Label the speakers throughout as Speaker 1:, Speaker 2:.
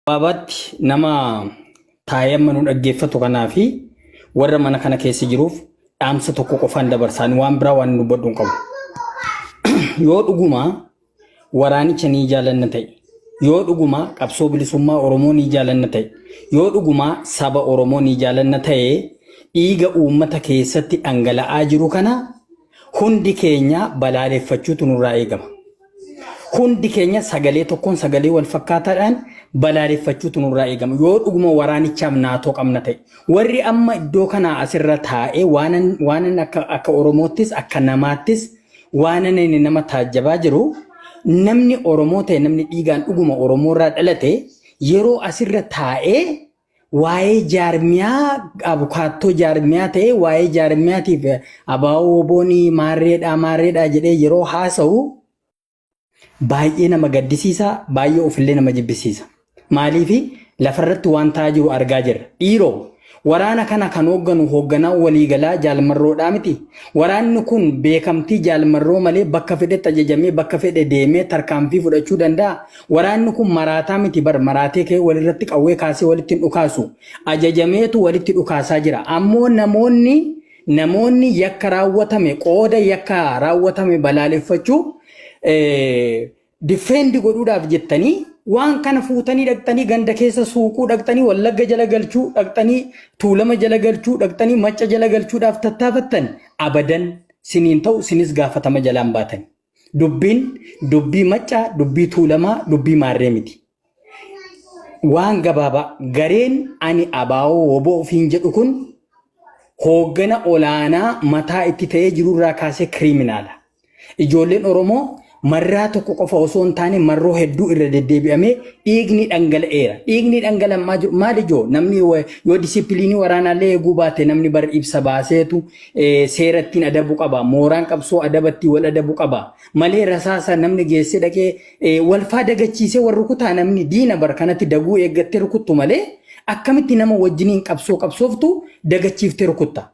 Speaker 1: Gabaabaatti nama taa'ee amma nu dhaggeeffatu kanaa fi warra mana kana keessa jiruuf dhaamsa tokko qofaan dabarsaan waan biraa waan dubbadhu hin qabu. Yoo dhuguma waraanicha ni jaalanna ta'e, yoo dhuguma qabsoo bilisummaa Oromoo ni jaalanna ta'e, yoo dhuguma saba Oromoo ni jaalanna ta'e dhiiga uummata keessatti dhangala'aa jiru kana Hundi keenya balaaleffachuutu nurraa eegama. Hundi keenya sagalee tokkoon sagalee wal fakkaataadhaan balaaleffachuutu nurraa eegama. Yoo dhuguma waraanichaaf naatoo qabna ta'e. Warri amma iddoo kanaa asirra taa'ee waanan waanan akka akka Oromoottis akka namaattis waanan inni nama taajjabaa jiru namni Oromoo ta'e namni dhiigaan dhuguma Oromoorraa dhalate yeroo asirra taa'ee waa'ee jaarmiyaa abukaattoo jaarmiyaa ta'ee waa'ee jaarmiyaatiif abaa'oo oboonii maarreedhaa maarreedhaa jedhee yeroo haasa'u baay'ee nama gaddisiisa baay'ee ofillee nama jibbisiisa maaliif lafarratti waan ta'aa jiru argaa jirra dhiiroo waraana kana kan hoogganu hoogganaa waliigalaa jaalmarroodhaa miti waraanni kun beekamtii jaalmarroo malee bakka fedhetti ajajamee bakka fedhe deemee tarkaanfii fudhachuu danda'a Waraanni kun maraataa miti bar maraatee ka'ee walirratti qawwee kaasee walitti hin dhukaasu. Ajajameetu walitti dhukaasaa jira. Ammoo namoonni namoonni yakka raawwatame qooda yakka raawwatame balaaleffachuu diffeendi godhuudhaaf jettanii waan kana fuutanii dhaqxanii ganda keessa suuquu dhaqxanii wallagga jala galchuu dhaqxanii tuulama jala galchuu dhaqxanii macca jala galchuudhaaf tattaafattan abadan siniin ta'u sinis gaafatama jalaan baatanii. Dubbiin dubbii maccaa, dubbii tuulamaa, dubbii maarree miti. Waan gabaabaa gareen ani abaawoo woboo ofiin jedhu kun hooggana olaanaa mataa itti ta'ee jirurraa kaasee kiriiminaala. Ijoolleen Oromoo marraa tokko qofa osoo hin taane marroo hedduu irra deddeebi'amee dhiigni dhangala'eera. Dhiigni dhangala'aa jiru maal ijoo namni yoo disipiliinii waraanaallee eeguu baate namni bar ibsa baaseetu seera ittiin adabu qaba. Mooraan qabsoo adaba ittiin wal adabu qaba. Malee rasaasa namni geessee dhaqee eh, walfaa dagachiisee wal rukutaa namni diina bar kanatti daguu eeggattee rukuttu malee akkamitti nama wajjiniin qabsoo qabsooftu dagachiiftee rukutta.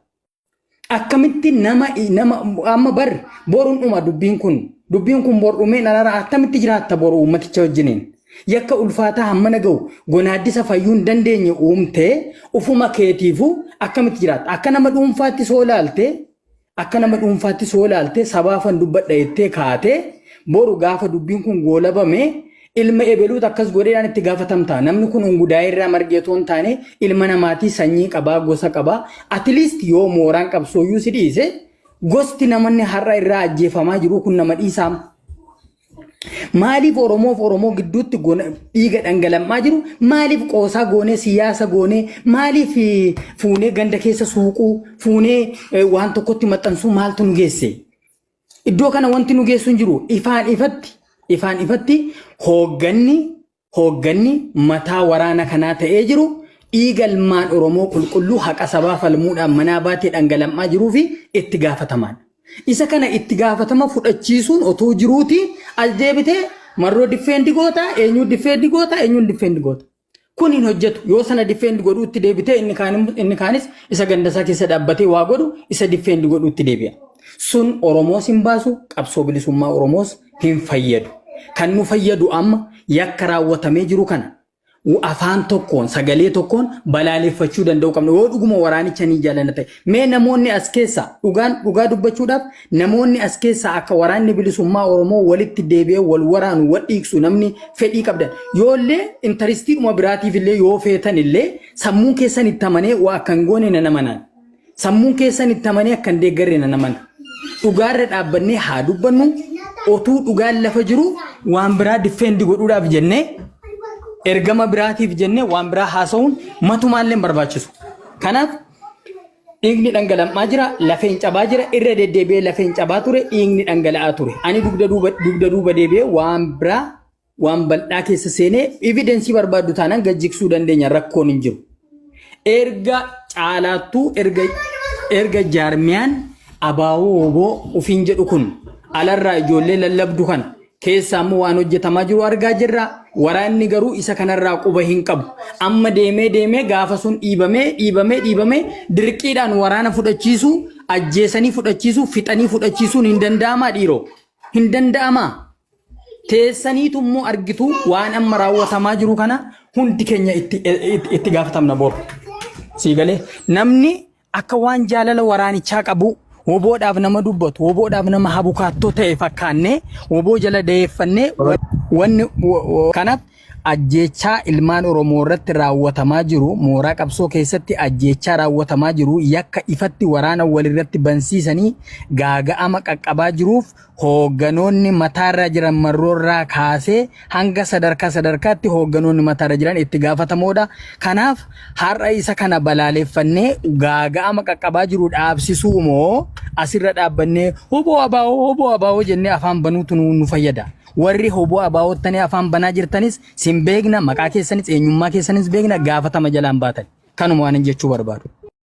Speaker 1: Akkamitti nama nama amma bar boruun dhuma dubbiin kun dubbiin kun bor dhumeen alaraa akkamitti jiraatta boru uummaticha wajjiniin. Yakka ulfaataa hammana gahu gonaaddisa fayyuu hin dandeenye uumtee ufuma keetiifuu akkamitti jiraatta? Akka nama dhuunfaatti soo ilaaltee akka nama dhuunfaatti soo ilaaltee sabaafan dubbadha jettee kaatee boru gaafa dubbiin kun goolabame ilma ebeluutu akkas godheedhaan itti gaafatamta. Namni kun ungudaa'ee irraa margee otoo hin taane ilma namaatii sanyii qabaa gosa qabaa atiliist yoo mooraan qabsooyyuu si dhiise gosti namanni har'a irraa ajjeefamaa jiruu kun nama dhiisaam. Maaliif Oromoo fi Oromoo gidduutti gona- dhiiga dhangalammaa jiru? Maaliif qoosaa goonee siyaasa goonee? Maaliif eh, fuunee ganda keessa suuquu? Fuunee eh, waan tokkotti maxxansuu maaltu nu geesse? Iddoo kana wanti nu geessu hin jiru. Ifaan ifatti, ifaan ifatti hoogganni Hoogganni mataa waraana kanaa ta'ee jiru dhiiga ilmaan Oromoo qulqulluu haqa sabaa falmuudhaan manaa baatee dhangalam'aa jiruufi itti gaafatamaadha. Isa kana itti gaafatama fudhachiisuun otuu jiruutii as deebitee Marroo diffeendi goota, eenyuu diffeendi goota, eenyuun diffeendi goota. Kun hin hojjetu. Yoo sana diffeendi godhuutti deebitee inni kaan inni kaanis isa gandasaa keessa dhaabbatee waa godhu isa diffeendi godhuutti deebi'a. Sun Oromoos hin baasu, qabsoo bilisummaa Oromoos hin fayyadu. Kan nu fayyadu amma yakka raawwatamee jiru kana afaan tokkoon sagalee tokkoon balaaleffachuu danda'uu qabna. Yoo dhuguma waraanicha ni jaallanna ta'e. Mee namoonni as keessaa dhugaan dhugaa dubbachuudhaaf namoonni as keessaa akka waraanni bilisummaa Oromoo walitti deebi'ee wal waraanu wal dhiigsu namni fedhii qabdan. Yoollee intaristiidhuma biraatiif illee yoo feetan illee sammuun keessan itti amanee waa akka hin goone nan amanaan. Sammuun keessan itti amanee akka hin deeggarre nan amana. Dhugaarra dhaabbannee haa dubbannu otuu dhugaan lafa jiru waan biraa diffeendi godhuudhaaf jennee ergama biraatiif jennee waan biraa haasa'uun matumaallee hin barbaachisu. Kanaaf dhiigni dhangala'aa jira, lafeen cabaa jira, irra deddeebi'ee lafeen cabaa ture, dhiigni dhangala'aa ture. Ani dugda duuba dugda duuba deebi'ee waan biraa waan bal'aa keessa seenee evidensii barbaaddu taanaan gad jigsuu dandeenya rakkoon hin jiru. Erga caalaattuu erga erga jaarmiyaan abaawoo oboo ofiin jedhu kun alarraa ijoollee lallabdu kana keessaa immoo waan hojjetamaa jiru argaa jirra. Waraanni garuu isa kanarraa quba hin qabu. Amma deemee deemee gaafa sun dhiibamee dhiibamee dhiibamee dirqiidhaan waraana fudhachiisuu ajjeesanii fudhachiisuu fixanii fudhachiisuun hin danda'amaa dhiiroo. Hin danda'amaa. teessaniitu immoo argitu waan amma raawwatamaa jiru kana hundi keenya itti itti- itti gaafatamna boru. Sii galee namni akka waan jaalala waraanichaa qabu woboodhaaf nama dubbatu woboodhaaf nama habukaattoo ta'e fakkaannee woboo jala dayeeffannee wa- wanni wo- wo- kanaaf Ajjeechaa ilmaan Oromoo irratti raawwatamaa jiru mooraa qabsoo keessatti ajjeechaa raawwatamaa jiru yakka ifatti waraana walirratti bansiisanii gaaga'ama qaqqabaa jiruuf hoogganoonni mataarra jiran marroorraa kaasee hanga sadarkaa sadarkaatti hoogganoonni mataarra jiran itti gaafatamoodha. Kanaaf har'a isa kana balaaleffannee gaaga'ama qaqqabaa jiru dhaabsisuu moo asirra dhaabbannee hoboo abaa'oo hoboo abaa'oo jennee afaan banuutu nu nu fayyada. Warri hoboo abaawottanii afaan banaa jirtanis sin beekna maqaa keessanis eenyummaa keessanis beekna gaafatama jalaan baatan kanuma waanin jechuu barbaadu.